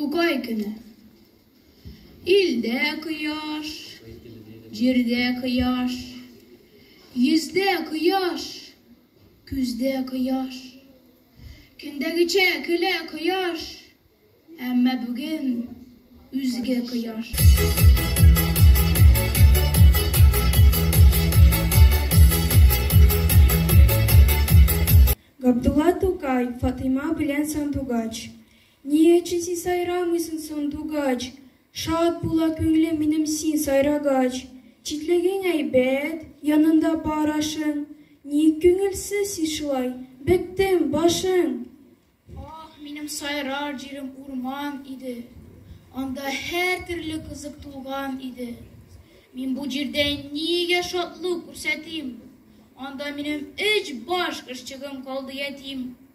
Тукай көне. Илдә кояш, җирдә кояш, йөздә кояш, күздә кояш. Көндәгечә көлә кояш, әмма бүген үзге кояш. Габдулла Тукай, Фатыйма белән сандугач. Ни өчен син сайрамыйсың соң, дугач? Шат була күңлем минем син сайрагач. Читлегең әйбәт, янында бар ашың. Ник күңелсез син шулай? Беттем, башың! Ах, минем сайрар җирем урман иде. Анда һәр төрле кызык тулган иде. Мин бу җирдә нигә шатлык күрсәтим? Анда минем өч баш кошчыгым калды ятим.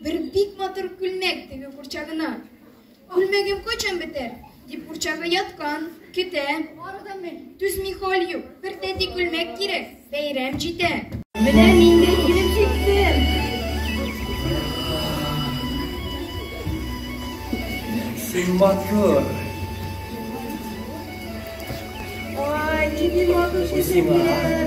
Бер бик матур күлмәк теге курчагына. Күлмәгем кочан бетәр? дип курчагы яткан, көтә. Түзми хәл юк, бер тәти күлмәк кирәк, бәйрәм җитә. Менә мин дә килеп җиттем. Син матур. Ой, нинди матур чәчәкләр.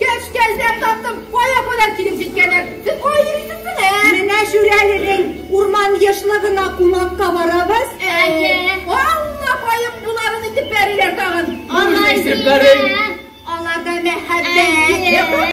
Кәш кәлдә таптым, кая кадәр килеп җиткәннәр. Сез кая йөрисез менә? Менә Шүрәленең урман ешлыгына кунакка барабыз. Әйе. Алла каеп буларын итеп бәриләр тагын. Алай димә. Аларда мәхәббәт.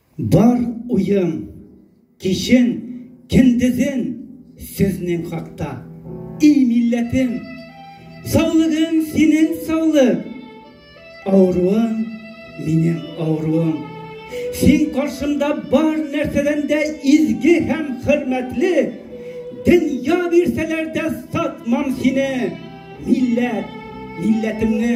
Бар уем, кичен, кендезен сезнең хакта. И милләтем, саулыгың синең саулык, авыруың минем авыруым. Син каршымда бар нәрсәдән дә изге һәм хөрмәтле, дөнья бирсәләр дә сатмам сине, милләт, милләтемне.